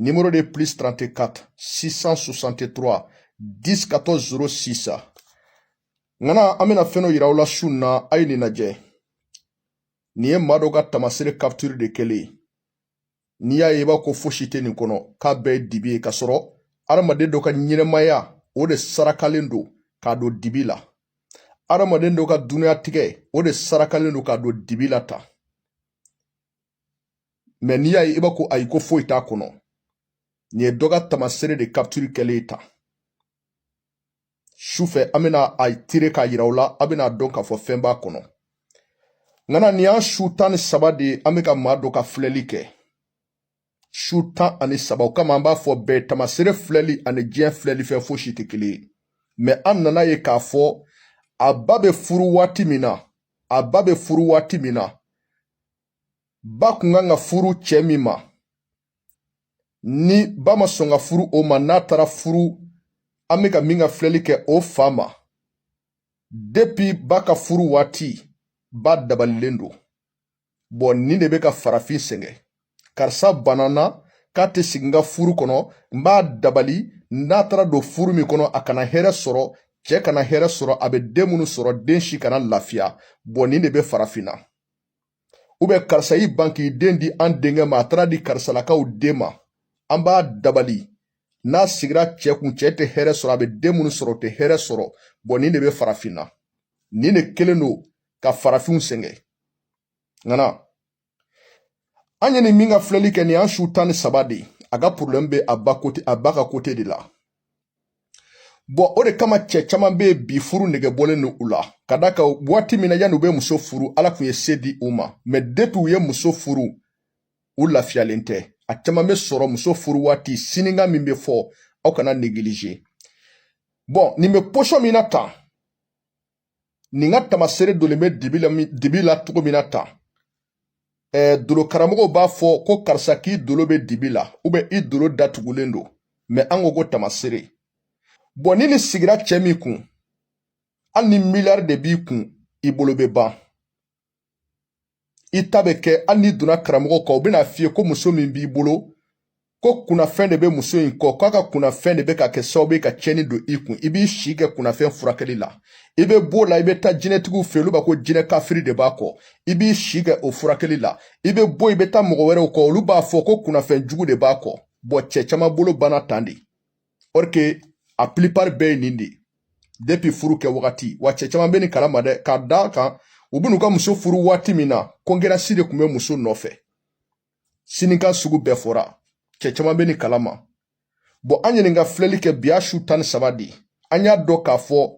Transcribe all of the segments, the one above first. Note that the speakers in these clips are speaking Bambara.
Numéro de plus 34 663 10 14 06 ŋana an bɛna fɛn dɔ yira aw la su na a ye nin lajɛ nin ye maa dɔ ka tamasere capture de kɛlen ye n'i y'a ye i b'a ko fosi tɛ nin kɔnɔ k'a bɛɛ ye dibi ye k'a sɔrɔ adamaden dɔ ka ɲɛnamaya o de sarakalen don k'a don dibi la adamaden dɔ ka duniyatigɛ o de sarakalen don k'a don dibi la tan mɛ n'i y'a ye i b'a ko ayi ko foyi t'a kɔnɔ nin ye dɔ ka tamasere de capture kɛlen tan sufɛ an bɛna a tire k'a yira aw la a bɛna dɔn k'a fɔ fɛn b'a kɔnɔ ŋana nin y'an su tan ni saba de ye an bɛ ka maa dɔ ka filɛli kɛ su tan ani saba o kama an b'a fɔ bɛɛ tamasere filɛli ani diɲɛ filɛli fɛn fosi tɛ kelen ye mɛ an nana ye k'a fɔ a ba bɛ furu waati min na a ba bɛ furu waati min na ba kun kan ka furu cɛ min ma ni ba ma sɔn ka furu o ma n'a taara furu an bɛ ka min ka filɛli kɛ o fa ma depi ba ka furu waati ba dabalilen don bɔn nin de bɛ ka farafin sɛgɛn karisa banna n na k'a tɛ sigi n ka furu kɔnɔ n b'a dabali n'a taara don furu min kɔnɔ a kana hɛrɛ sɔrɔ cɛ kana hɛrɛ sɔrɔ a bɛ den minnu sɔrɔ den si kana lafiya bɔn nin de bɛ farafinna ubiyɛn karisa y'i ban k'i den di an denkɛ ma a taara di karisalakaw den ma an b'a dabali n'a sigira cɛ kun cɛ tɛ hɛrɛ sɔrɔ a bɛ den minnu sɔrɔ o tɛ hɛrɛ sɔrɔ bɔn nin de bɛ farafinna nin de kelen don ka farafinw sɛgɛn ŋana an ye nin min ka filɛli kɛ nin y'an su tan ni saba de ye a ka porobilɛmu bɛ a ba ka kote de la bɔn o de kama cɛ caman bɛ yen bi furu nege bɔlen don u la ka d'a kan waati min na yanni u bɛ muso furu ala kun ye se di u ma mɛ depi u ye muso furu u lafiyalen tɛ a caman bɛ sɔrɔ muso furu waati sininka min bɛ fɔ aw kana negilize bɔn nin bɛ posɔn min na tan nin ka tamasere donnen bɛ dibi la cogo min na tan ɛɛ dolo karamɔgɔw b'a fɔ ko karisa k'i dolo bɛ dibi la ubiyɛn i dolo datugulen don mɛ an ko ko tamasere bɔn ni nin sigira cɛ min kun hali ni miliyari de b'i kun i bolo bɛ ban i ta bɛ kɛ hali n'i donna karamɔgɔw kɔ u bɛna f'i ye ko muso min b'i bolo ko kunnafɛn de bɛ muso in kɔ k'a ka kunnafɛn de bɛ ka kɛ sababu ye ka tiɲɛni don i kun i b'i si kɛ kunnafɛn furakɛli la i bɛ b'o la i bɛ taa jinɛtigiw fɛ olu b'a ko jinɛ kafiri de b'a kɔ i b'i si kɛ o furakɛli la i bɛ bɔ i bɛ taa mɔgɔ wɛrɛw kɔ olu b'a fɔ ko kunnafɛn jugu de b'a kɔ bɔn cɛ caman bolo banna tan de or que a plupart bɛɛ ye nin de ye depuis furu kɛ wagati wa cɛ caman bɛ nin kalama dɛ ka d'a kan u bɛn'u ka muso furu waati min na concurrence de tun bɛ muso nɔfɛ sinikan sugu bɛɛ fɔra cɛ caman bɛ nin kalama bɔn an ye nin ka filɛli kɛ bi a su tan ni saba de an y'a dɔn k'a fɔ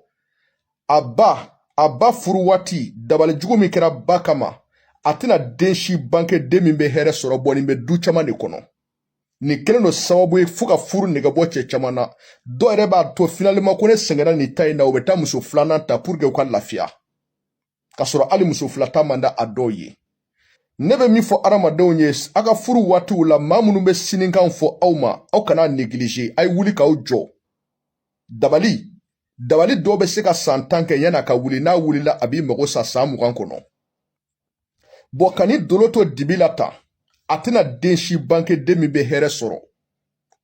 a ba a ba furu waati dabali jugu min kɛra ba kama a tɛna den si bange den min bɛ hɛrɛ sɔrɔ bɔn nin bɛ du caman de kɔnɔ nin kɛlen don sababu ye fo ka furu nege bɔ cɛ caman na dɔw yɛrɛ b'a to finalement ko ne sɛgɛnna nin ta in na u bɛ taa muso filanan ta pour que u ka lafiya k'a sɔrɔ hali muso fila ta man di a dɔw ye ne bɛ min fɔ adamadenw ye a ka furu waatiw la maa minnu bɛ sinikan fɔ aw ma aw kan'a negilize a ye wuli k'aw jɔ dabali dabali dɔw bɛ se ka san tan kɛ yan'a ka wuli n'a wulila a b'i mago sa san mugan kɔnɔ bɔn ka nin dolo to dibi la tan a tɛna den si bange den min bɛ hɛrɛ sɔrɔ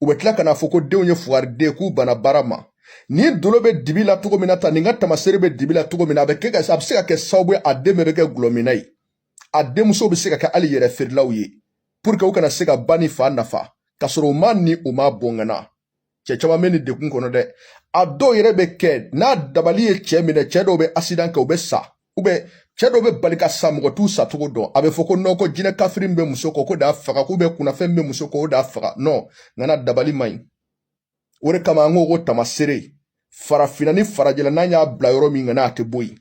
u bɛ tila ka n'a fɔ ko denw ye fugariden k'u bana baara ma nin dolo bɛ dibi la cogo min na tan nin ka tamasere bɛ dibi la cogo min na a bɛ kɛ ka a bɛ se ka kɛ sababu ye a den bɛɛ bɛ kɛ dɔlɔminna ye a denmuso bɛ se ka kɛ hali yɛrɛ feerelaw ye pour que u kana se ka ba ni fa nafa k'a sɔrɔ u ma ni u m'a bon ŋana cɛ caman bɛ nin degun kɔnɔ dɛ a dɔw yɛrɛ bɛ kɛ n'a dabali ye cɛ minɛ cɛ dɔw bɛ asidan kɛ u bɛ sa u bɛ cɛ dɔw bɛ bali ka sa mɔgɔ t'u sacogo dɔn a bɛ fɔ ko nɔn ko jinɛ kafiri min bɛ muso kɔ k'o d'a faga k'u bɛ kunnafɛn min bɛ muso kɔ o d'a faga nɔn ŋana dabali man ɲi o de kama an ko ko tamasere farafinna ni farajɛla n'an y'a bila yɔrɔ min ŋana a tɛ bɔ yen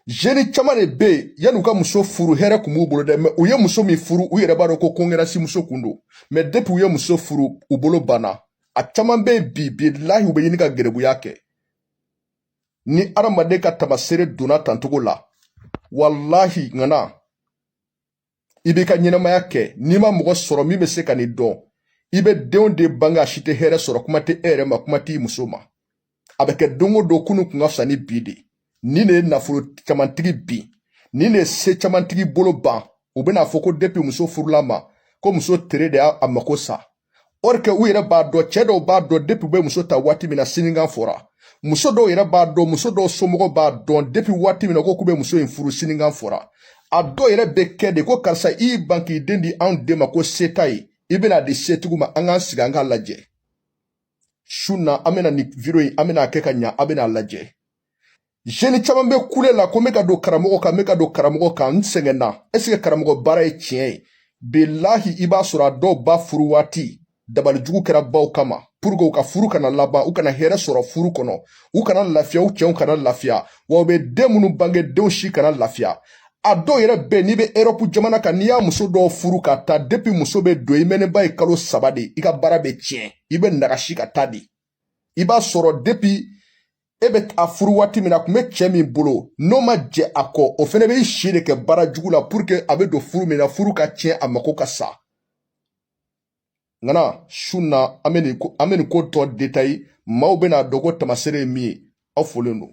zeni caman de bɛ yen yan'u ka muso furu hɛrɛ kun b'u bolo dɛ mɛ u ye muso min furu u yɛrɛ b'a dɔn ko concurrence muso kun don mɛ depuis u ye muso furu u bolo banna a caman bɛ yen bi bilahi u bɛ ɲini ka garibuya kɛ ni adamaden ka tamasere donna tan cogo la walahi ŋana i b'i ka ɲɛnamaya kɛ n'i ma mɔgɔ sɔrɔ min bɛ se ka nin dɔn i bɛ denw de bange a si tɛ hɛrɛ sɔrɔ kuma tɛ e yɛrɛ ma kuma t'i muso ma a bɛ kɛ don o don kunun kun ka fisa ni bi de nin de ye nafolo camantigi bin nin de ye se camantigi bolo ban u bɛn'a fɔ ko depuis muso furula ma ko muso tere de y'a mako sa or que u yɛrɛ b'a dɔn cɛ dɔw b'a dɔn depuis u bɛ muso ta waati min na sinikan fɔra muso dɔw yɛrɛ b'a dɔn muso dɔw somɔgɔw b'a dɔn depuis waati min na ko k'u bɛ muso in furu sinikan fɔra a dɔw yɛrɛ bɛ kɛ de ko karisa i y'i ban k'i den di anw den ma ko se t'a ye i bɛn'a di setigiw ma an k'an sigi an k'a lajɛ su na an bɛna nin video in an bɛn'a kɛ ka ɲa an bɛn'a lajɛ jeni caman bɛ kule la ko n bɛ ka don karamɔgɔ kan n bɛ ka don karamɔgɔ kan n sɛgɛnna ɛseke karamɔgɔ baara ye tiɲɛ ye bilahi i b'a sɔrɔ a dɔw ba furu waati dabalijugu kɛra baw kama puruke u ka furu kana laban u kana hɛrɛ sɔrɔ furu kɔnɔ u kana lafiya u cɛw kana lafiya wa u bɛ den minnu bange denw si kana lafiya a dɔw yɛrɛ bɛ n'i bɛ erɔpu jamana kan n'i y'a muso dɔw furu ka taa depi muso bɛ don i mɛɛnnenba ye kalo saba de i ka baara bɛ tiɲɛ i bɛ nagasi ka taa de i b'a sɔrɔ depi e bɛ a furu waati min na a tun bɛ cɛ min bolo n'o ma jɛn a kɔ o fana bɛ si de kɛ baara jugu la puruke a bɛ don furu min na furu ka tiɲɛ a mako ka sa nga nin su na an bɛ nin ko an bɛ nin ko tɔ detaye maaw bɛn'a dɔn ko taamaseere ye min ye aw folen don